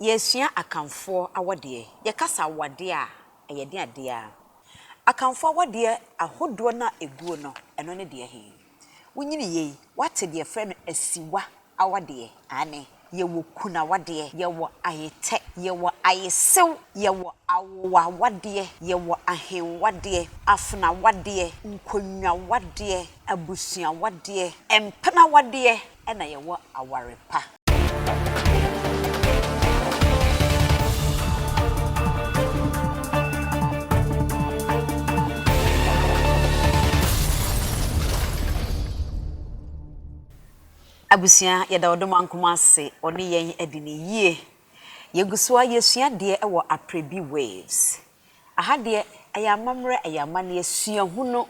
Yɛresua Akanfoɔ awadeɛ. Yɛkasa awadeɛ a, ɛyɛ den adeɛ ara. Akanfoɔ awadeɛ ahodoɔ no a ɛguo no, ɛno ne deɛ he? Wonyini yei, woate deɛ yɛfrɛ no asiwa awadeɛ? Aane. Yɛwɔ kunu awadeɛ, yɛwɔ ayetɛ, yɛwɔ ayesew, yɛwɔ awowa awadeɛ, yɛwɔ ahenwadeɛ, afenawadeɛ, nkonnwawadeɛ, abusuawadeɛ, mpena awadeɛ, na yɛwɔ aware pa. Abusua, yɛda Ɔdomankoma ase, ɔne yɛn adi no yie. Yɛgu so ara yɛsua adeɛ wɔ Aprebi Waves. Aha deɛ, ɛyɛ amammerɛ, ɛyɛ amanneɛ, suahunu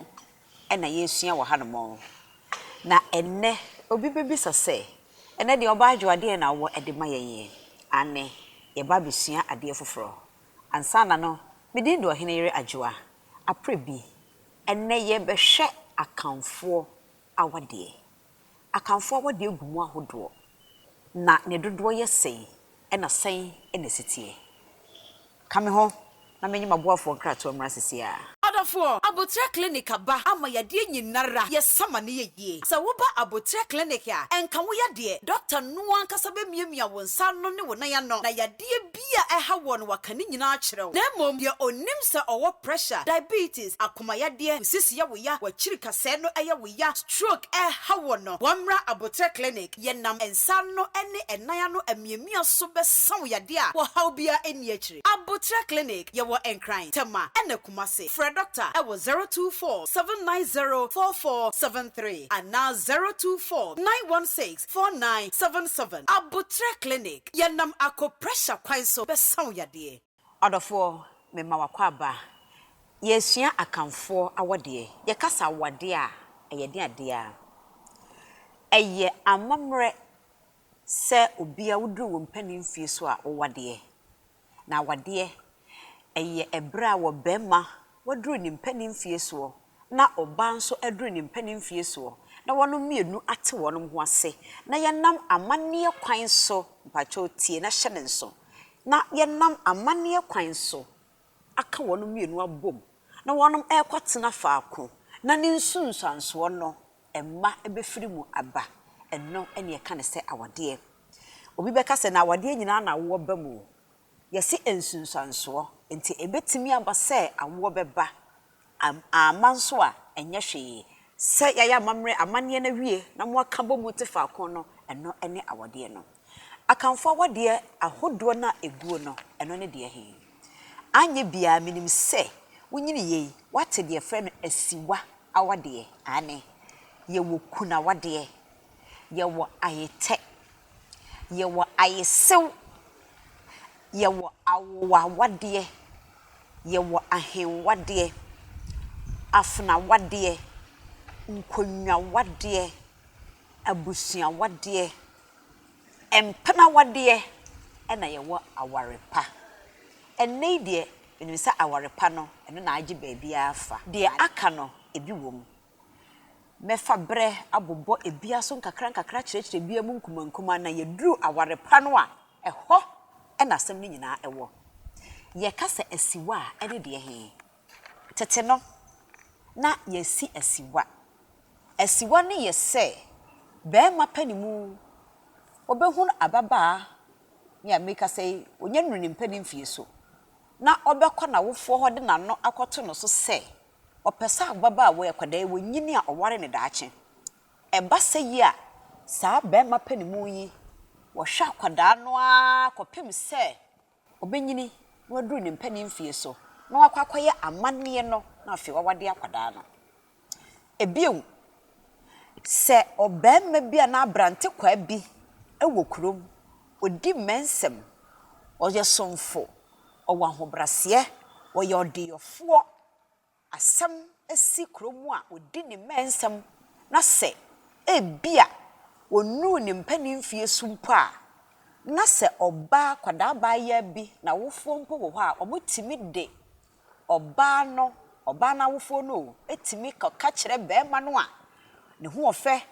na yɛresua wɔ hanom. Na ɛnnɛ, obi bɛbisa sɛ, Ɛnnɛ deɛ Ɔbaa Adwo adeɛn na wowɔ de ma yɛn yi? Aane, yɛreba abɛsua adeɛ foforɔ. Ansa na no, me din de Ɔheneyere Adwoa. Aprɛ bi, ɛnnɛ yɛrebɛhwɛ Akanfoɔ awadeɛ. Akanfoɔ a wɔde agu mu ahodoɔ, na ne dodoɔ yɛ sɛn, ɛna sɛn na ɛsi teɛ? Ka me ho na menye m'aboafoɔ nkratoɔ mmra sese ara. Adɔfoɔ, Aboterɛ Clinic aba ama yadeɛ nyinara yɛ sama ne yɛ yie. Sɛ wo ba Aboterɛ Clinic a, ɛnka wo yadeɛ, Doctor no ankasa bɛmiamia wo nsa ano ne wo nan ano na yadeɛ, Biribi a ɛha wɔn no waka ne nyinaa akyerɛ wo. Na mmom deɛ ɔnim sɛ ɔwɔ pressure, diabetes, akomayadeɛ, nsisi yɛ wo ya, wakyirikasɛɛ no yɛ wo ya, stroke ɛreha wɔn no, wɔmmra aboterɛ clinic, yɛnam nsa ano ne nan ano amiamia so bɛsa wo yadeɛ a ɔhaw biara nni akyire. Aboterɛ clinic, yɛwɔ Nkran, Tema ɛna Kumasi. Frɛ Doctor ɛwɔ zero two four seven nine zero four four seven three anaa zero two four nine one six Four nine seven seven Aboterɛ Clinic, Yɛnam akoprɛhya kwan so bɛsa wo yadeɛ. Ɔdɔfoɔ, mema w'akwaaba. Yɛresua Akanfoɔ awɔdeɛ. Yɛkasa awɔadeɛ a, ɛyɛ den adeɛ ara. Ɛyɛ amammerɛ sɛ obia woduru wo mpanin mfie so a wowɔadeɛ. Na wɔdeɛ, ɛyɛ ɛberɛ a wɔ barima waduru ne mpaninfie soɔ na ɔbaa nso aduru ne mpaninfie soɔ na wɔnom mmienu ate wɔnom ho ase na yɛnam amanneɛ kwan so, mpakyɛw tie na hyɛ no nso, na yɛnam amanneɛ kwan so aka wɔnom mmienu abom na wɔnom ɛrekɔtena faako na ne nsunsuansoɔ no mma bɛfiri mu aba, ɛno na yɛka no sɛ awadeɛ. Obi bɛka sɛ, na awadeɛ nyinaa na awoɔ ba mu o. Yɛse nsunsuansoɔ, enti ɛbɛtumi aba sɛ awoɔ bɛba, amma nso a ɛnyɛ hwee. Sɛ yɛayɛ amammerɛ, amanneɛ no awie na moaka bɔ mu te faako no, ɛno ne awadeɛ no. Akanfo awadeɛ ahodoɔ no a ɛguo no, ɛno ne deɛ he? Anyɛ biaa menim sɛ wonyiniiɛ yi woate deɛ yɛfrɛ no asiwa awadeɛ, aane, yɛwɔ kunu awadeɛ, yɛwɔ ayetɛ, yɛwɔ ayesew, yɛwɔ awowawadeɛ, yɛwɔ ahenwadeɛ, afenawadeɛ, nkonnwawadeɛ, abusuawadeɛ, Mpɛn awadeɛ na yɛwɔ aware pa. Ɛnnɛ yi deɛ, menim sɛ aware pa no, ɛno na agye baabiara afa. Deɛ aka no, ebi wom. Mɛfa berɛ abobɔ ebiara so nkakrankakra akyerɛkyerɛ ebiara mu nkumankumaa na yɛduru aware pa no a, ɛhɔ na asɛm no nyinaa wɔ. Yɛka sɛ asiwa a, ɛne deɛ he? Tete no, na yɛasi asiwa. Asiwa no yɛ sɛ barima pɛ ne mu, ɔbɛhunu ababaa, me a merekasa yi, ɔnya nnuru ne mpɛ ne mfeɛ so, na ɔbɛkɔ n'awofoɔ hɔ de n'ano akɔto no so sɛ ɔpɛ sɛ ababaawa yi, akwadaa yi, ɔnyini a ɔware no daakye. Ɛba sɛ yi a, saa barima pɛ ne mu yi, ɔhwɛ akwadaa no ara kɔpem sɛ ɔbɛnyini na waduru ne mpanin mfeɛ so na wakɔ akɔyɛ amanneɛ no na afei wawade akwadaa no. Bio, sɛ ɔbarima bi anaa abrantekwaa bi wɔ kurom, ɔdi mmɛnsɛm, ɔyɛ somfo, ɔwɔ ahobraseɛ, ɔyɛ ɔdeyɔfoɔ, asɛm si kuro mu a ɔdi ne mmɛnsɛm na sɛ ebia ɔnnuru ne mpanin mfeɛ su mpo a, na sɛ ɔbaa akwadaa abaayaa bi n'awofoɔ mpo wɔ hɔ a, wɔtumi de ɔbaa no, ɔbaa no awofoɔ no o, tumi kɔka kyerɛ barima no a ne ho ɔfɛ,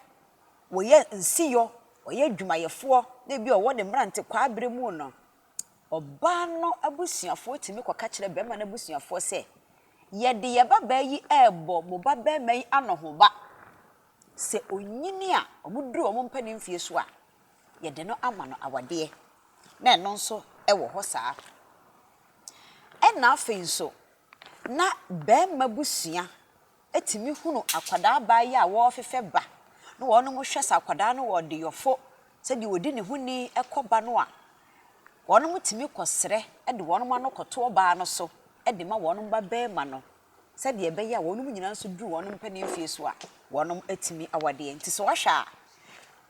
ɔyɛ nsiyɔ, ɔyɛ adwumayɛfoɔ na ebia ɔwɔ ne mmerantekwaa berɛ mu no, Ɔbaa no abusuafoɔ tumi kɔka kyerɛ barima no abusuafoɔ sɛ, Yɛde yɛn babaa yi rebɔ mo babarima yi anohoba. Sɛ ɔnyini a, wɔduru wɔn mpanin mfeɛ so a, yɛde no ama no awadeɛ. Na ɛno nso wɔ hɔ saa. Ɛnna afei nso, na barima abusua tumi hunu akwadaa baa yi a wɔrefefɛ ba na wɔnom hwɛ sɛ akwadaa no wɔ ɔdeyɔfo sɛdeɛ ɔdi ne ho ni kɔ ba no a, wɔnom tumi kɔ serɛ de wɔnom ano kɔto ɔbaa no so de ma wɔnom ba barima no sɛdeɛ ɛbɛyɛ a wɔnom nyinaa nso duru wɔnom mpanin fie so a wɔnom atumi awadeɛ. Nti sɛ wɔhwɛ a,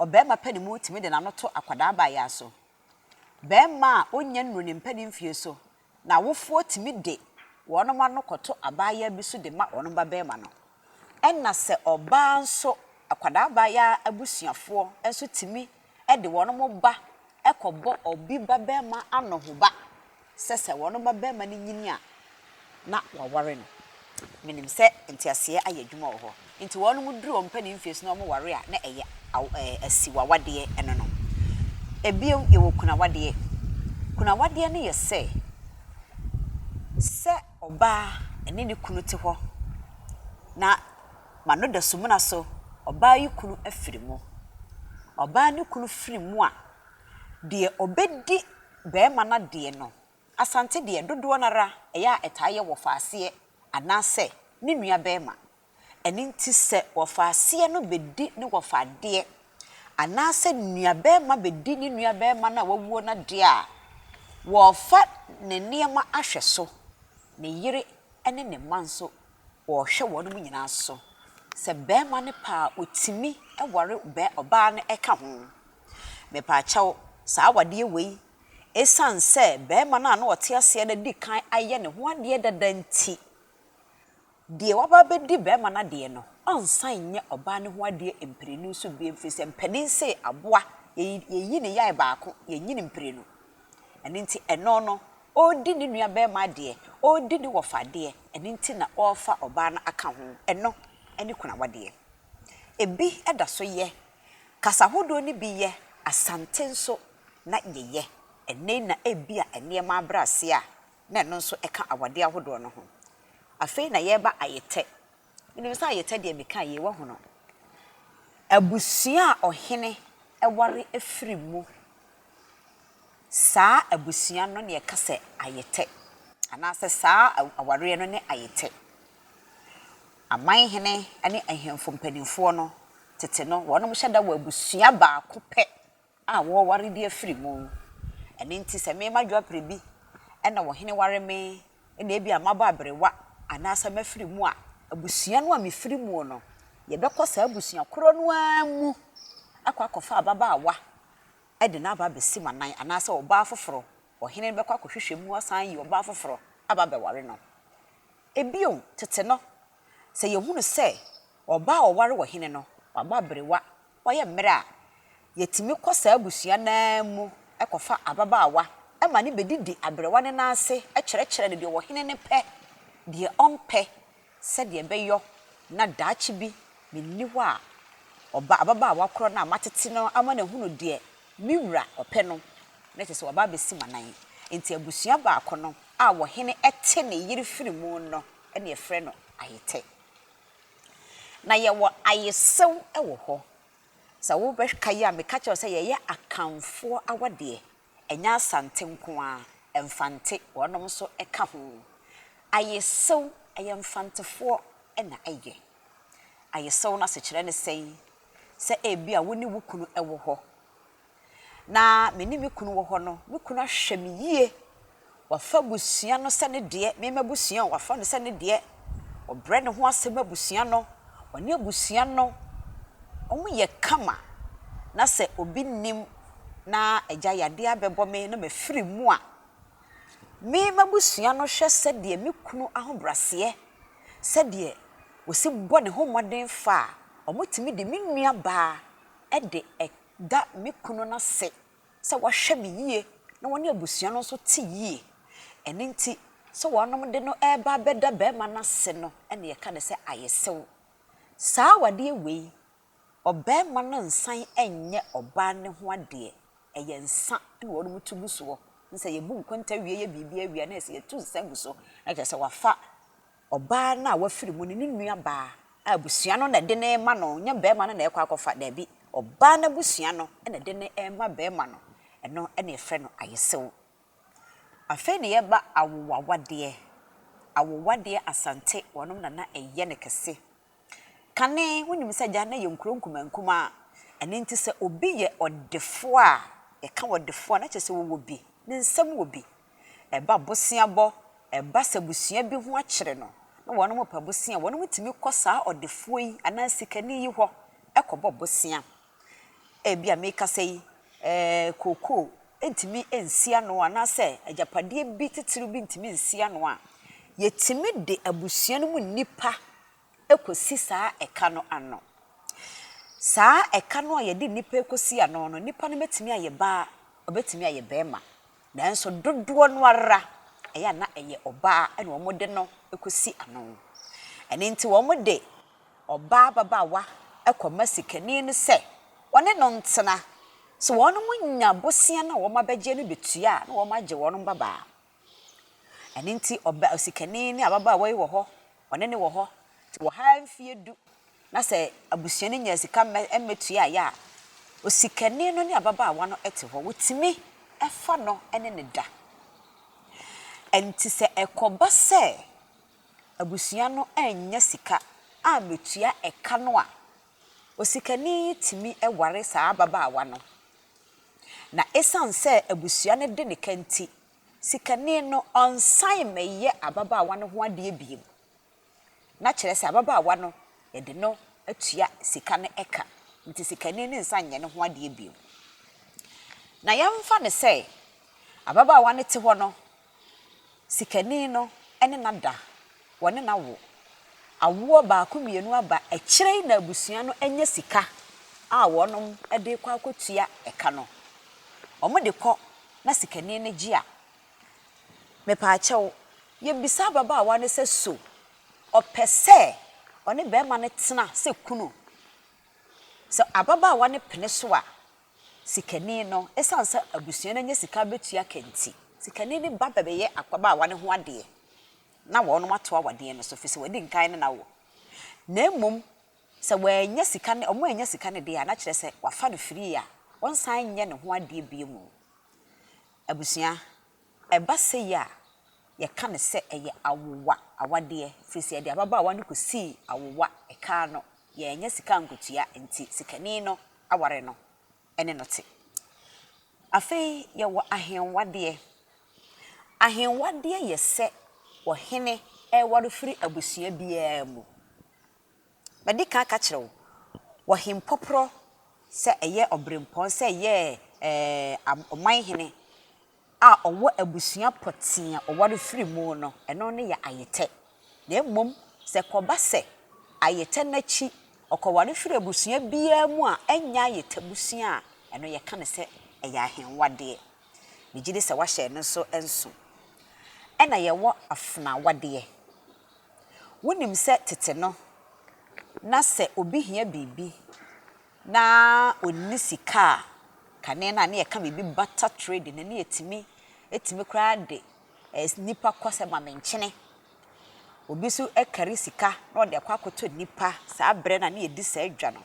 ɔbarima pɛ ne mu tumi de n'ano to akwadaa baa yi aso. Barima a ɔnnya nnuru ne mpanin fie so na awofoɔ tumi de wɔn mma no kɔto abaayaa bi so de ma wɔn babarima no. Ɛna sɛ ɔbaa nso, akwadaa abaayaa abusuafoɔ nso tumi de wɔn ba kɔbɔ obi babarima anohoba sɛ sɛ wɔn babarima no nyini a, na wɔaware no. Menim sɛ nteaseɛ ayɛ adwuma wɔ hɔ nti wɔnom duru ɔmpɛ ne mfie so na wɔn ware a na ɛyɛ asiw awadeɛ ɛno no. Bio yɛwɔ kunu awadeɛ. Kunu awadeɛ no yɛ sɛ, sɛ ɔbaa ɛne ne kunu te hɔ na m'ano da sumina so, ɔbaa yi kunu afiri mu. Ɔbaa no kunu firi mu a, deɛ ɔbɛdi barima no adeɛ no Asante deɛ, dodoɔ no ara, ɛyɛ a ɛtaa yɛ wɔfaaseɛ anaasɛ ne nua barima. Ɛno nti sɛ wɔfaaseɛ no bɛdi ne wɔfa adeɛ anaasɛ nua barima bɛdi ne nua barima no a wawuo no adeɛ a, wɔrefa ne nneɛma ahwɛ so, ne yere ne ne mma nso wɔrehwɛ wɔn nyinaa so. Sɛ barima no pɛ a, ɔtumi ware ɔbaa no ka ho. Mepaakyɛw, saa awadeɛ wei Esiane sɛ barima no a na ɔte aseɛ no adi kan ayɛ ne ho adeɛ dada nti, deɛ waba abɛdi barima no adeɛ no, ɔnsan nyɛ ɔbaa no ho adeɛ mprenu so bio ɛfiri sɛ mpanin se aboa, yɛyi ne yan baako, yɛnyi no mprenu. Ɛno nti, ɛno no, ɔredi ne nuabarima adeɛ, ɔredi ne wɔfa adeɛ, ɛno nti na ɔrefa ɔbaa no aka ho. Ɛno ne kunu awadeɛ. Ebi da so yɛ, kasa hodoɔ no bi yɛ, Asante nso na yɛyɛ ɛnnɛ yi na ebia nneɛma abrɛ ase a, na ɛno nso ka awadeɛ ahodoɔ no ho. Afei na yɛreba ayetɛ. Menim sɛ ayetɛ deɛ mekaa yei woahu no. Abusua a ɔhene ware firi mu, saa abusua no na yɛka sɛ ayetɛ anaasɛ saa awareɛ no ne ayetɛ. Amanhene ne ahemfo mpanimfoɔ no, tete no, wɔnom hyɛ da wɔ abusua baako pɛ a wɔware bi afiri mu. Ɛno nti sɛ me m'adwoaberɛ bi na ɔhene ware me na ebia mabɔ aberewa anaasɛ mafiri mu a, abusua no a mefiri muo no, yɛbɛkɔ saa abusua korɔ no ara mu akɔ akɔfa ababaawa de no aba abɛsi m'anan anaasɛ ɔbaa foforɔ, ɔhene no bɛkɔ akɔhwehwɛ mu asan ayi ɔbaa foforɔ aba abɛware no. Ebio, tete no, sɛ yɛhunu sɛ ɔbaa a ɔware ɔhene no, wabɔ aberewa Wɔyɛ mmerɛ a, yɛtumi kɔ saa abusua no ara mu kɔfa ababaawa ma no bɛdidi aberewa no nan ase kyerɛkyerɛ no deɛ ɔhene no pɛ, deɛ ɔmpɛ, sɛdeɛ ɛbɛyɔ na daakye bi menni hɔ a, ɔba ababaawa korɔ no a matete no ama no ahunu deɛ me wura ɔpɛ no, na kyerɛ sɛ waba abɛsi m'anan. Enti abusua baako no a ɔhene te ne yere firi mu no na yɛfrɛ no Ayetɛ. Na yɛwɔ ayesew wɔ hɔ. Sɛ wobɛkae a, meka kyerɛɛ wo sɛ yɛyɛ Akanfoɔ awadeɛ. Ɛnyɛ Asante nko ara, Mfante, wɔnom nso ka ho. Ayesew, ɛyɛ Mfantefoɔ na ɛyɛ. Ayesew no asekyerɛ ne sɛn? Sɛ ebia wo ne wo kunu wɔ hɔ. na me ne me kunu wɔ hɔ no, me kunu ahwɛ me yie. Wafa abusua no sɛ ne deɛ, me m'abusua, wafa no sɛ ne deɛ. Ɔbrɛ ne ho ase ma abusua no. Ɔne abusua no, wɔyɛ kama. Na sɛ obi nnim na agya yadeɛ abɛbɔ me na mafiri mu a, me m'abusua no hwɛ sɛdeɛ me kunu ahobrɛaseɛ, sɛdeɛ ɔsi bɔ ne ho mmɔden fa a, wɔtumi de me nuabaa de da me kunu no ase sɛ wahwɛ me yie na ɔne abusua no nso te yie. Ɛno nti, sɛ wɔnom de no reba abɛda barima no ase no na yɛka no sɛ ayesew. Saa awadeɛ wei, ɔbarima no nsan nyɛ ɔbaa no ho adeɛ, ɛyɛ nsa na wɔnom to gu soɔ. Sɛ yɛbu nkonta wie yɛ biribiara wie a na yɛsɛ yɛtu nsa gu so na kyerɛ sɛ wafa. Ɔbaa no a wafiri mu no, ne nua baa a abusua no na ɛde no rema no, nyɛ barima no na ɛrekɔ akɔfa, daabi, ɔbaa no abusua no na ɛde no rema barima no, ɛno na yɛfrɛ no ayesew. Afei na yɛba awowawadeɛ, awowadeɛ Asante wɔnom na na ɛyɛ no kɛse, Kane, wonim sɛ agyan no yɛ nkuro nkumaa nkumaa, ɛno nti sɛ obi yɛ ɔdefoɔ a, yɛka ɔdefoɔ a na kyerɛ sɛ wɔwɔ bi, ne nsam wɔ bi. Ɛba boseabɔ, ɛba sɛ abusua bi ho akyere no na wɔpɛ bosea a, wɔtumi kɔ saa ɔdefoɔ yi anaa sikani yi hɔ kɔbɔ bosea. Ebia merekasa yi, kookoo ntumi nsi ano anaasɛ agyapadeɛ bi titiriw bi ntumi nsi ano a, yɛtumi de abusua no mu nnipa kɔsi saa ɛka no ano. Saa ɛka no a yɛde nnipa rekɔsi ano no, nnipa no bɛtumi ayɛ baa, ɔbɛtumi ayɛ barima. Nanso dodoɔ no ara, ɛyɛ a na ɛyɛ ɔbaa na wɔde no kɔsi ano. Ɛno nti wɔde. Ɔbaa ababaawa kɔma sikani no sɛ ɔne no ntena. Sɛ wɔnom nya bosea no a wɔn abɛgyeɛ no bi tua a, na wɔn agye wɔn mmabaa. Ɛno nti ɔba osikani ne ababaawa yi wɔ hɔ, ɔne no wɔ hɔ, nti wɔha ara mfeɛ du, na sɛ abusua no nya sika mmɛ mmɛtuaeɛ a, osikani no ne ababaawa no te hɔ. Wɔtumi fa no ne no da. Nti sɛ ɛkɔba sɛ. abusua no annya sika ammetua ɛka no a, osikani yi tumi ware saa ababaawa no. Na esiane sɛ abusua no de ne ka nti, sikani no ɔnsan mmɛyɛ ababaawa no ho adeɛ bio. Na kyerɛ sɛ ababaawa no, yɛde no atua sika no ka, nti sikani no nsan nyɛ ne ho adeɛ bio. Na yɛmfa no sɛ ababaawa no te hɔ no, Sikani no ne na da, wɔne na wo. Awoɔ baako mmienu aba akyire yi na abusua no anya sika a wɔnom de kɔ akɔtua ɛka no. Wɔn de kɔ na sikani no gye a, mepaakyɛw, yɛbisa ababaawa no sɛ so ɔpɛ sɛ ɔne barima no tena sɛ kunu? Sɛ ababaawa no pene so a, Sikani no, esiane sɛ abusua no anya sika betua ka nti, sikani no ba bɛbɛyɛ akɔbaawa no ho adeɛ na wɔnom ato awadeɛ no so, fisɛ wadi nkan ne n'awoɔ. Na mmom sɛ wannya sika ne, wɔn annya sika no deɛ a, na kyerɛ sɛ wafa no firii a ɔnsan nyɛ ne ho adeɛ bio mu. Abusua, ɛba sei a, yɛka no sɛ ɛyɛ awowa awadeɛ, firisɛ yɛde ababaawa no kɔsii awowa, ɛkaa no, yɛannya sika ankotua nti, sikani no aware no ne no te. Afei yɛwɔ ahenwadeɛ. Ahenwadeɛ yɛ sɛ ɔhene reware firi abusua biara mu. Madi kan aka akyerɛ wo, ɔhempɔporɔ sɛ ɛyɛ ɔberempɔn sɛ ɛyɛ ɛɛ ɔmanhene a ɔwɔ abusua pɔtee a ɔware firi mu no, ɛno ne yɛ ayetɛ. Na mmom sɛ ɛkɔba sɛ ayetɛ no akyi ɔkɔware firi abusua biara mu a ɛnyɛ ayetɛ abusua a, ɛno yɛka no sɛ ɛyɛ ahenwadeɛ. Megye di sɛ woahyɛ ɛno nso nso. Ɛna yɛwɔ afenaawadeɛ. Wonim sɛ tete no, na sɛ obi hia biribi na ɔnni sika a, kane no a, ne ɛka biribi barter trading no, ne ɛtumi, ɛtumi koraa de nnipa kɔ sɛ ma me nkyene. Obi nso kari sika na ɔde akɔ akɔtɔ nnipa, saa berɛ no a ne yɛdi saa dwa no.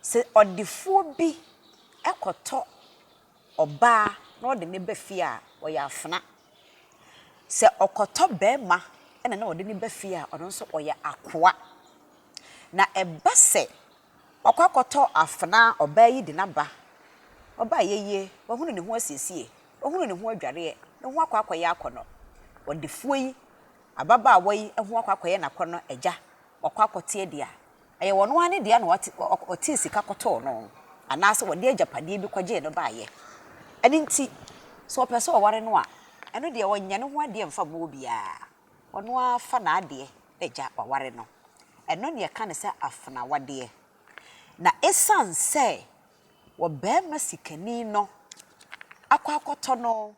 Sɛ ɔdefoɔ bi kɔtɔ ɔbaa na ɔde no ba fie a, ɔyɛ afena. Sɛ ɔkɔtɔ barima na na ɔde no ba fie a, ɔno nso ɔyɛ akoa. Na ɛba sɛ wakɔ akɔtɔ afena a ɔbaa yi de no aba, ɔbaa yi ayie, wahunu ne ho asiesie, wahunu ne ho adwareɛ, ne ho akɔ akɔyɛ akɔnnɔ. Ɔdefoɔ yi, ababaawa yi ho akɔ akɔyɛ n'akɔnnɔ agya, wakɔ akɔte adi a, Ɛyɛ ɔno ara ne dea na ɔtee sika kɔtɔɔ no anaasɛ ɔde agyapadeɛ bi kɔgyee no baeɛ. Ɛno nti, sɛ ɔpɛ sɛ ɔware no a, ɛno deɛ ɔnyɛ ne ho adeɛ mfa mma obiara. Ɔno ara fa n'adeɛ gya waware no. Ɛno na yɛka no sɛ afena awadeɛ. Na ɛsiane sɛ ɔbarima sikani no akɔ akɔtɔ no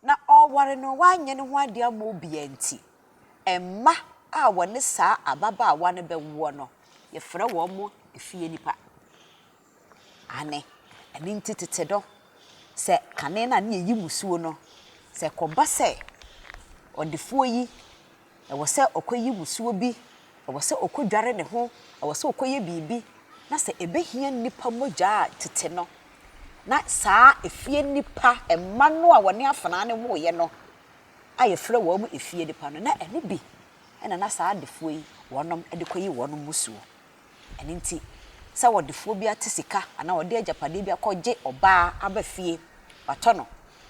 Na ɔreware no wanyɛ ne ho ade ama obiara nti, mma a wɔne saa ababaawa no bɛwoɔ no, yɛfrɛ wɔn efie nnipa. Aane, ɛno nti tete no, sɛ kane no a na yɛyi musuo no, sɛ ɛkɔba sɛ ɔdefoɔ yi Ɛwɔ sɛ ɔkɔyi wusiwɔ bi, ɛwɔ sɛ ɔkɔdware ne ho, ɛwɔ sɛ ɔkɔyɛ biribi, na sɛ ɛbɛhia nnipa mogya a, tete no, na saa efie nnipa, mma no a wɔne afenaa no woeɛ no, a yɛfrɛ wɔn efie nnipa no, na ɛno bi na na saa adefoɔ yi wɔnom de kɔyi wɔn mmusuo. Ɛno nti, sɛ ɔdefoɔ bi ate sika anaa ɔde agyapadeɛ bi akɔgye ɔbaa aba fie, watɔ no,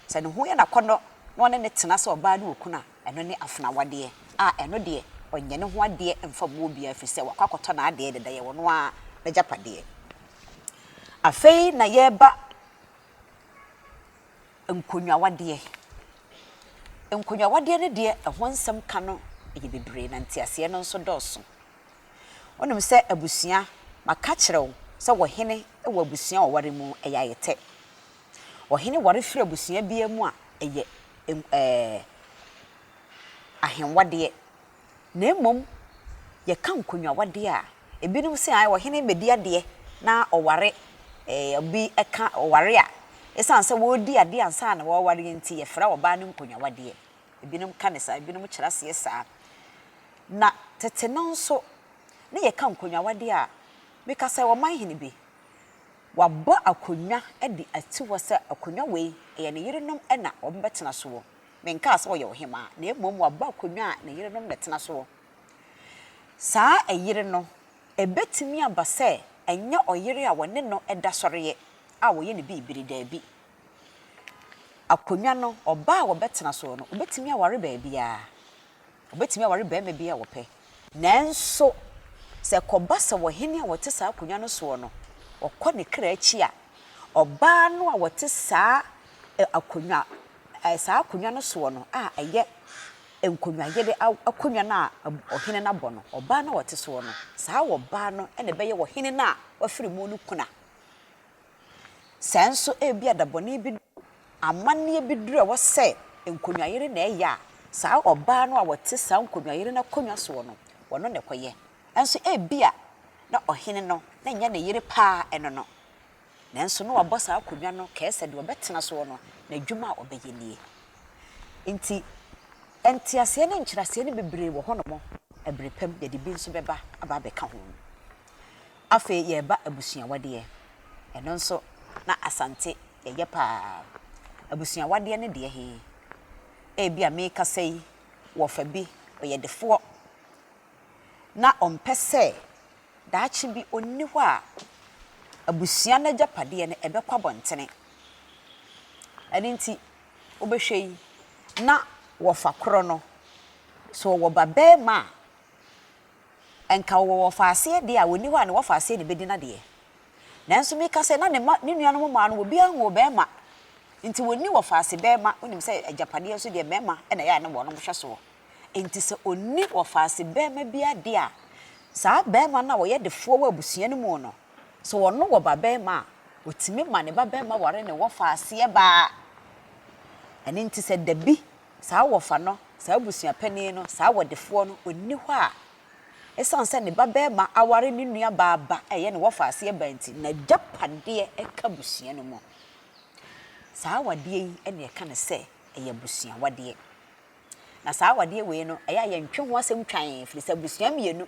sɛ ne ho yɛ no akɔnnɔ na ɔne no tena sɛ ɔbaa ne okunu a, Ɛno ne afena wadeɛ a ɛno deɛ ɔnyɛ ne ho adeɛ mfa mmu obiara ɛfiri sɛ wakɔ akɔtɔ n'adeɛ deda, ɛyɛ ɔno ara n'agyapadeɛ. Afei na yɛreba nkonnwawadeɛ. Nkonnwawadeɛ no deɛ ɛho nsɛm ka no yɛ bebree na nteaseɛ no nso dɔɔso. Wonim sɛ abusua, maka akyerɛ wo sɛ wɔ hene wɔ abusua a wɔware mu ɛyɛ ayɛtɛ. Ɔhene ware firi abusua biara mu a, ɛyɛ ɛɛ ahenwadeɛ. Na mmom yɛka nkonnwawadeɛ a, ebinom se ae ɔhene rebɛdi adeɛ na ɔware ɛɛ obi ka ɔware a, ɛsiane sɛ wɔredi adeɛ ansa na wɔrewareɛ nti, yɛfrɛ ɔbaa no nkonnwawadeɛ. Ebinom ka no saa, ebinom kyerɛ aseɛ saa. Na tete no nso, na yɛka nkonnwawadeɛ a, meka sɛ ɔmanhene bi, Wabɔ akonnwa de asi hɔ sɛ akonnwa wei, ɛyɛ ne yerenom na wɔbɛtena soɔ. Menkaa sɛ ɔyɛ ɔhemmaa, na mmom wabɔ akonnwa a ne yerenom na ɛtena soɔ. Saa ɛyere no, ɛbɛtumi aba sɛ ɛnyɛ ɔyere a wɔne no da sɔreɛ a wɔyɛ no biribiri, daabi. Akonnwa no, ɔbaa a wɔbɛtena soɔ no, ɔbɛtumi aware baabiara. Wɔbɛtumi aware barima biara a wɔpɛ. Nanso, sɛ ɛkɔba sɛ ɔhene a ɔte saa akonnwa no soɔ no, ɔkɔ ne kra akyi a, ɔbaa no a ɔte saa akonnwa, saa akonnwa no soɔ no a ɛyɛ nkonyayere akonnwa no a ɔhene no abɔ no, ɔbaa no a ɔte soɔ no, saa ɔbaa no na ɛbɛyɛ ɔhene no a wafiri mu no kuna. Sɛ nso ebia dabɔne bi dɔ amanneɛ bi duru a ɛwɔ sɛ nkonyayere na ɛyɛ a, saa ɔbaa no a ɔte saa nkonyayere no akonnwa soɔ no, ɔno na ɛkɔyɛ. Nanso ebia na ɔhene no, na ɛnyɛ ne yere pa ara ɛno no, nanso na wabɔ saa akonnwa no kɛɛ sɛ deɛ ɔbɛtena soɔ no, n'adwuma a ɔbɛyɛ nie. Enti, nteaseɛ ne nkyerɛaseɛ no bebree wɔ hɔnom. Ɛberɛ pa mu, yɛde bi nso bɛba aba abɛka ho. Afei yɛreba abusuawadeɛ. Ɛno nso na Asante yɛyɛ pa ara. Abusuawadeɛ ne deɛ he? Ebia meekasa yi, wɔfa bi, ɔyɛ defoɔ na ɔmpɛ sɛ daakye bi ɔnni hɔ a abusua no agyapadeɛ no ɛbɛkɔ abɔntene. Ɛno nti wobɛhwɛ yi na wɔfa korɔ no, sɛ ɔwɔ babarima a, Nka wɔwɔ wɔfaaseɛ deɛ a wɔnni hɔ a ne wɔfaaseɛ na ɛbɛdi n'adeɛ. Nanso meka sɛ na ne mma, ne nuanom mmaa no, obiara nwoo barima, enti wɔnni wɔfaase barima, wonim sɛ agyapadeɛ nso deɛ mmarima na ɛyɛ a na wɔnom hwɛ soɔ. Enti sɛ ɔnni wɔfaase barima bi adeɛ a, saa barima no a ɔyɛ defoɔ wɔ abusua no mu no, sɛ ɔno wɔ babarima a, ɔtumi ma ne babarima ware ne wɔfaaseɛ baa. Ɛno nti sɛ da bi saa wɔfa no, saa abusua panin no, saa wɔdefoɔ no, ɔnni hɔ a, ɛsiane sɛ ne ba barima aware ne nua baa ba a ɛyɛ ne wɔfa aseɛ ba nti, n'agyapadeɛ ka abusua no mu. Saa awadeɛ yi na ɛka no sɛ ɛyɛ abusuawadeɛ. Na saa awadeɛ wei no, ɛyɛ a yɛntwe ho asɛm twann, ɛfiri sɛ abusua mmienu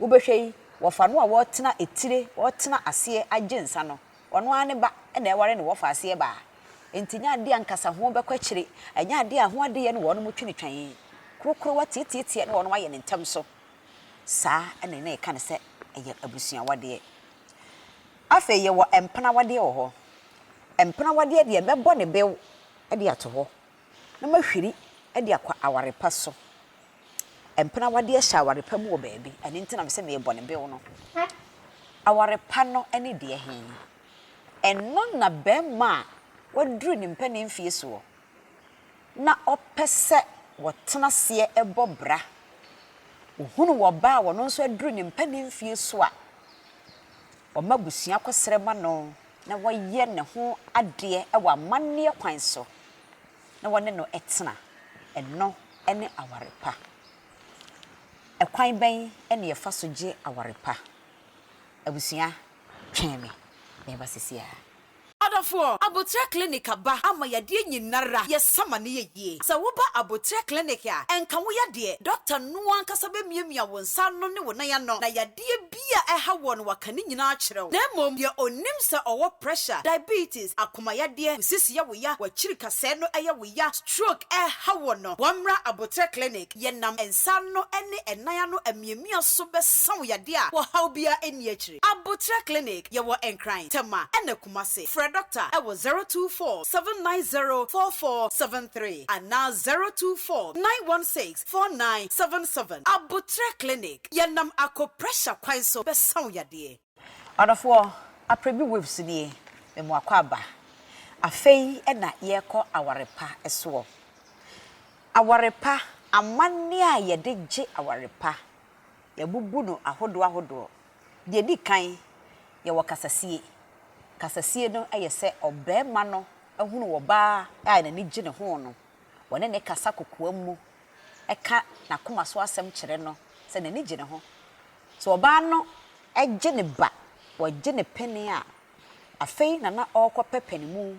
wobɛhwɛ yi, wɔfa no a ɔretena etire, ɔretena aseɛ agye nsa no, ɔno ara ne ba na ɛware ne wɔfa aseɛ baa. Enti ɛnyɛ adeɛ a ankasa ho bɛkɔ akyire, ɛnyɛ adeɛ a ho adeyɛ ne wɔnom twe no twɛn, korokorowa tiatiatia ne wɔnom ayɛ no ntɛm so. Saa na na yɛka no sɛ ɛyɛ abusuawadeɛ. Afei yɛwɔ mpenawadeɛ wɔ hɔ. Mpenawadeɛ deɛ mɛbɔ ne bɛw de ato hɔ na mahwiri de akɔ aware pa so. Mpenawadeɛ hyɛ aware pa mu wɔ baabi, ɛno nti na mese merebɔ ne bɛw no. Aware pa no ne deɛ he? Ɛno na barima a waduru ne mpanin mfeɛ soɔ na ɔpɛ sɛ wɔtena aseɛ bɔ bra. Ɔhunu ɔbaa a ɔno nso aduru ne mpanin mfeɛ so a, ɔma abusua kɔsrɛ ma no na wɔyɛ ne ho adeɛ wɔ amanneɛ kwan so na wɔne no tena. Ɛno ne aware pa. Ɛkwan bɛn na yɛfa so gye aware pa? Abusua, Twɛn me, mɛba sesiara. Adɔfoɔ, aboterɛ clinic aba ama yadeɛ nyinara yɛ sama ne yɛ yie. Sɛ wo ba aboterɛ clinic a, ɛnka wo yadeɛ, doctor no ankasa bɛ miamia wo nsa ano ne wo nan ano na yadeɛ bi a ɛha woɔ no waka ne nyinaa akyerɛ wo. Na mmom deɛ ɔnim sɛ ɔwɔ pressure, diabetes, akoma yadeɛ, wo sisi yɛ wo ya, wakyiri kasɛɛ no ɛyɛ wo ya, stroke ɛɛha woɔ no, wammra aboterɛ clinic. yɛnam nsa ano ne ɛnan ano amiamia so bɛsa wo yadeɛ a ɔhaw biara nni akyire. Aboterɛ Clinic, Yɛwɔ Nkran, Tema ɛna Kumasi. Frɛ Dɔkta wɔ 024 790 4473 anaa 024 916 4977. Aboterɛ Clinic, Yɛnam akɔ pressure kwan so bɛsa wo yadeɛ. Adɔfoɔ, aprɛ bi waves nie, me moakɔ aba. Afei na yɛrekɔ aware pa soɔ. Aware pa, amanneɛ a yɛde gye aware pa, yɛabubu no ahodoɔ ahodoɔ. Deɛ ɛdi kan, yɛwɔ kasasie. Kasasie no yɛ sɛ ɔbarima no hunu ɔbaa a n'ani gye ne ho no, wɔne no kasa kokoam mu ka n'akoma so asɛm kyerɛ no sɛ n'ani gye ne ho. Sɛ ɔbaa no gye ne ba, wɔgye no pene a, afei na na ɔrekɔpɛ panimu,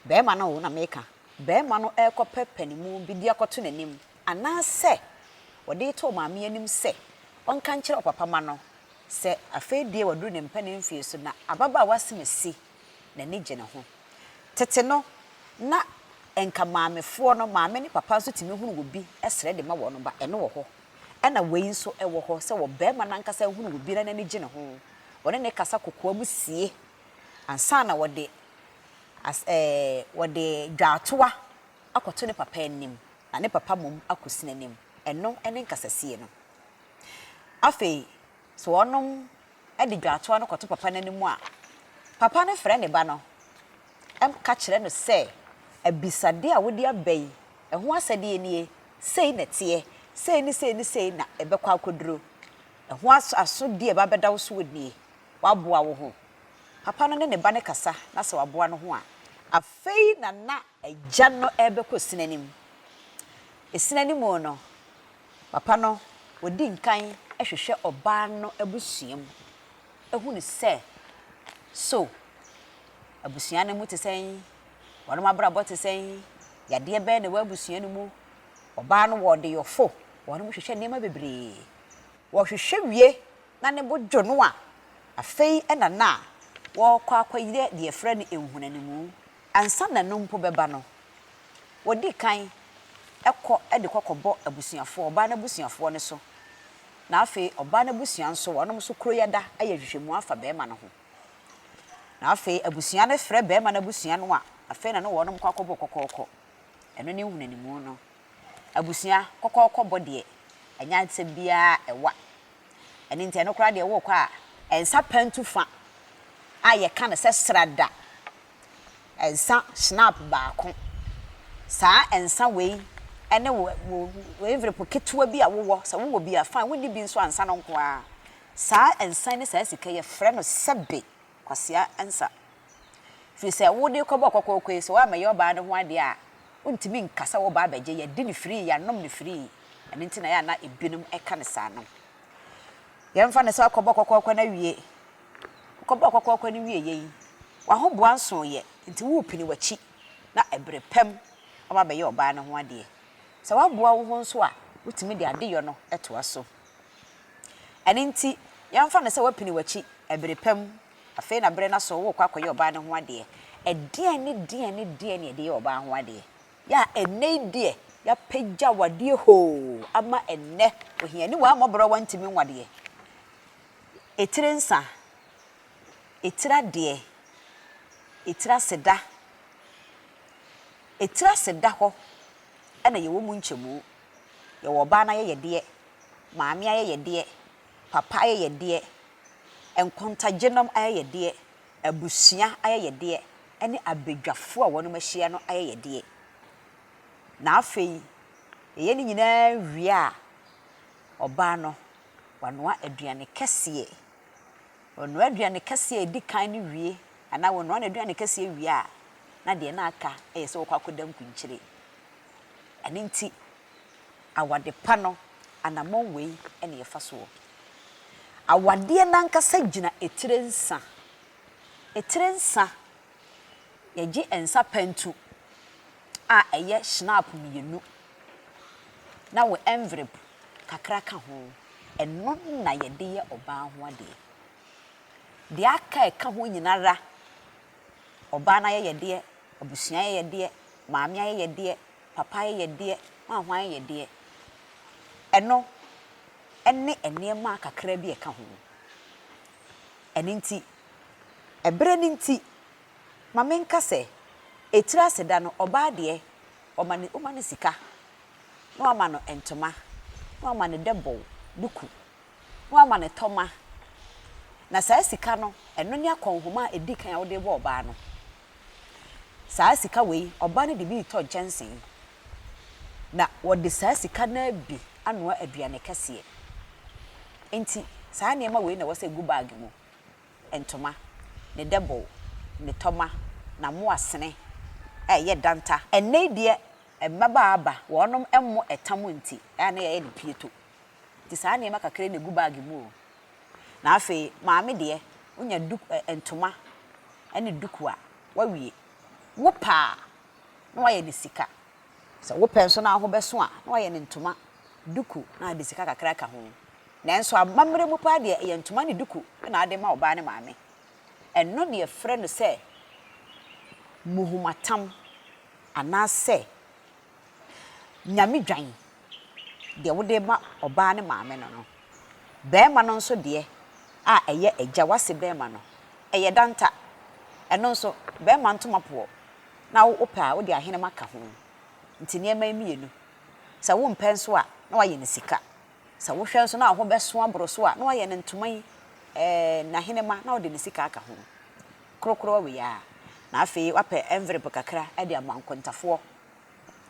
barima no o na meka, barima no rekɔpɛ panimu bi de akɔto n'anim anaasɛ ɔde reto maame anim sɛ ɔnka nkyerɛ ɔpapa ma no sɛ afei deɛ waduru ne mpanin mfeɛ so na ababaawa asimasi. n'ani gye ne ho. Tete no, na nka maamefoɔ no, maame ne papa nso tumi hunu obi srɛ de ma wɔn ba, ɛno wɔ hɔ. Ɛna wei nso wɔ hɔ sɛ ɔbarima no ankasa hunu obi na n'ani gye ne ho, ɔne no kasa kokoam sie ansa na ɔde as ɛɛ ɔde dwaatoa akɔto ne papa anim na ne papa mmom akɔsi n'anim. Ɛno ne nkasasie no. Afei, sɛ wɔnom de dwatoa no kɔto papa no anim a, papa no frɛ ne ba no ka kyerɛ no sɛ, Abisadeɛ a wode aba yi, ɛho asɛdeɛ nie, sei na ɛteɛ, sei ne sei ne sei na ɛbɛkɔ akɔduro, ɛho asodie a ɛba abɛda wo soɔ nie, woaboa wo ho? Papa no ne ne ba no kasa na sɛ waboa no ho a, afei na na agya no rebɛkɔ esini anim. Esini anim no, Papa no odi nkan hwehwɛ ɔbaa no abusua mu hu no sɛ so abusua no mu te sɛn, wɔn abrabɔ te sɛn, yadeɛ bɛn na ɛwɔ abusua no mu. Ɔbaa no wɔ ɔdeyɔfo, wɔn hwehwɛ nneɛma bebree. Wɔhwehwɛ wie na ne bo dwo no a, afei na na wɔrekɔ akɔyɛ deɛ yɛfrɛ no nhunanimu Ansa na ɛno mpo bɛba no, wɔdi kan kɔ de kɔkɔbɔ abusuafoɔ, ɔbaa no abusuafoɔ no so, na afei ɔbaa no abusua nso, wɔnom nso kuro yi ada ayɛ nhwehwɛmu afa barima no ho. Na afei abusua no frɛ barima no abusua no a, afei na ne wɔnom kɔ akɔbɔ kɔkɔɔkɔ. Ɛno ne nhunanimu no. Abusua kɔkɔɔkɔ bɔ deɛ, ɛnyɛ asɛm biara a ɛwa Ɛno nti, ɛno koraa deɛ worekɔ a, ɛnsa pantu fa a yɛka no sɛ srada, ɛnsa schnapp baako. Saa ɛnsa wei ne wo, wo, wo envelope ketewa bi a wowɔ, sɛ wowɔ bi a, fine, wonni bi nso a, nsa no nko ara. Saa ɛnsa yi ne saa sika yi, yɛfrɛ no sɛbe. Kwasea Ansah, Firi sɛ wo de kɔbɔɔ kɔkɔɔkɔ yi, sɛ woammɛyɛ ɔbaa no ho adeɛ a, wontumi nka sɛ woreba abɛgye. Yɛadi no firii, yɛanom no firii. Ɛno nti na ɛyɛ a na ebinom ka no saa no. Yɛmfa no sɛ woakɔbɔ kɔkɔɔkɔ no awie. Wokɔbɔɔ kɔkɔɔkɔ no wieeɛ yi, w'ahoboa nsooeɛ, enti worepini w'akyi na ɛberɛ pam ama abɛyɛ ɔbaa no ho adeɛ. Sɛ woaboa wo ho nso a, wotumi de adeyɔ no toa so. Ɛno nti, yɛmfa no sɛ woapini w'akyi bere pa mu. Afei na bere no aso worekɔ akɔyɛ ɔbaa no ho adeɛ. Ɛdeɛn ne deɛn ne deɛn na yɛde yɛ ɔbaa ho adeɛ? Yɛ a ɛnnɛ yi deɛ, yɛapagya awadeɛ hoo ama ɛnnɛ ohiani wɔ a mmɔborɔwa ntumi nwo adeɛ, etire nsa, etire adeɛ, etire aseda. Etire aseda hɔ na yɛwɔ mu nkyɛmu Yɛwɔ ɔbaa no ayɛyɛdeɛ, maame ayɛyɛdeɛ, papa ayɛyɛdeɛ, nkontagyenom ayɛyɛdeɛ, abusua ayɛyɛdeɛ, ɛne abadwafoɔ a wɔnom ahyia no ayɛyɛdeɛ. Na afei yɛyɛ ne nyinaa wie a, ɔbaa no wanoa aduane kɛseɛ. Ɔnoa aduane kɛseɛ a ɛdi kan no wie anaa ɔnoa n'aduane kɛseɛ wie a, na deɛ na aka yɛ sɛ ɔkɔ akɔda nkunkyire. Ɛno nti, awade pa no anammɔn wei na yɛfa soɔ. Awadeɛ no ankasa gyina etire nsa. Etire nsa, yɛgye nsa pantu a ɛyɛ shnap mmienu na wo envrip kakra ka ho, ɛno na yɛde yɛ ɔbaa ho adeɛ. Deɛ aka a ɛka ho nyina ara Ɔbaa no ayɛyɛdeɛ, abusua ayɛyɛdeɛ, maame ayɛyɛdeɛ, papa ayɛyɛdeɛ, hwanhwan ayɛyɛdeɛ. Ɛno ne nneɛma kakra bi a ɛka ho. Ɛno nti, ɛberɛ no nti, ma menka sɛ, etiri ase da no, ɔbaa deɛ, wɔma no, woma no sika, na wɔama no ntoma, na wɔama no dɛbɔw, duku. ho amanetɔma, na saa sika no, ɛno ne akɔnhoma a ɛdi kan a wode rebɔ ɔbaa no. Saa sika wei, ɔbaa no de bi retɔ nkyɛnse, na wɔde saa sika no ara bi anoa aduane kɛseɛ. Enti, saa nneɛma wei na ɛwɔ sɛ ɛgu bag mu, ntoma, ne dɛbow, ne tɔma, n'amoasene a ɛyɛ danta. Ɛnnɛ yi deɛ, mmabaa aba, wɔnom mmɔ ɛtam nti, ɛyɛ a na yɛyɛ no pieto. Nti saa nneɛma kakra yi na ɛgu bag mu o. Na afei maame deɛ, wonya duk ɛ ɛ ntoma ne duku a, woawie. Wopɛ a, na woayɛ no sika. Sɛ wopɛ nso na wo ho bɛso a, na woayɛ no ntoma, duku na wode sika kakra aka ho. Nanso amammerɛ mu paa deɛ, ɛyɛ ntoma ne duku na wode ma wo ba ne maame. Ɛno na yɛfrɛ no sɛ muhomatam anaasɛ Nyame dwan, deɛ wode rema ɔbaa no maame no no. Barima no nso deɛ a ɛyɛ agya, w'ase barima no, ɛyɛ danta. Ɛno nso, barima ntoma poɔ, na wo wopɛ a wode ahenema ka ho. Nti nneɛma yi mmienu, sɛ wompɛ nso a, na wayɛ no sika. Sɛ wohwɛ nso na wo ho bɛso aboro so a, na wayɛ no ntoma yi, ɛɛ, n'ahenema, na wode ne sika aka ho. Krokro awe aa na afei wapɛ envelope kakra de ama nkontafoɔ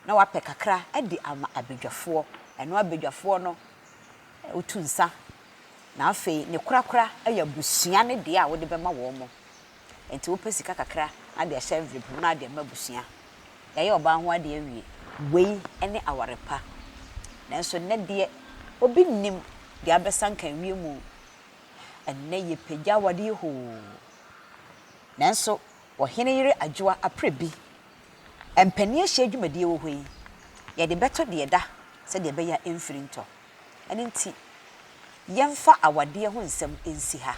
na wapɛ kakra de ama abadwafoɔ ɛno abadwafoɔ no wotu nsa na afei ne korakora yɛ abusua no deɛ a wode bɛma wɔn mo nti wopɛ sika kakra na de ahyɛ envelope mu na de ama abusua yɛayɛ ɔbaa ho adeɛ awie wei ne aware pa nanso nnɛ deɛ obi nnim deɛ abɛsa nka awie mu Ɛnnɛ yɛpagya awadeɛ hoo. Nanso ɔhene yere adwoa aprɛ bi. Mpanin ahyia dwumadie wɔ hɔ yi, yɛde bɛto deɛ ɛda sɛdeɛ ɛbɛyɛ a ɛmfiri ntɔ. Ɛno nti yɛmfa awadeɛ ho nsɛm nsi ha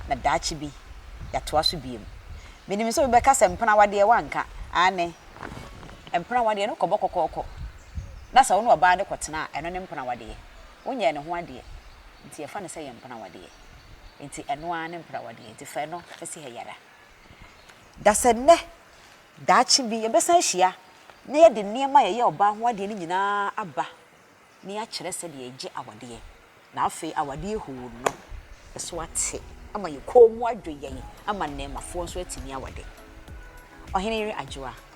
na daakye bi yɛatoa so bio. Menim sɛ obi bɛka sɛ mpena awadeɛ woanka. Aane, mpena awadeɛ no kɔbɔ kɔkɔɔkɔ na sɛ wo ne ɔbaa no kɔtena a, ɛno ne mpena awadeɛ. Wonyɛɛ ne ho adeɛ. Ntsi yɛfa no sɛ yɛ mpenawadeɛ. Ntsi ɛno ara ne mpenawadeɛ. Ntsi fa ɛno si ha yi ara. Da sɛ nnɛ, daakye bi, yɛbɛsan ahyia na yɛde nneɛma a yɛyɛ ɔbaa ho adeɛ no nyinaa aba na yɛakyerɛ sɛdeɛ yɛgye awadeɛ. Na afei awadeɛ huu no so ate ama yɛn kɔn mu adwo yɛn ama nnɛɛmafoɔ nso atumi awade. Ɔhene Yere Adwoa.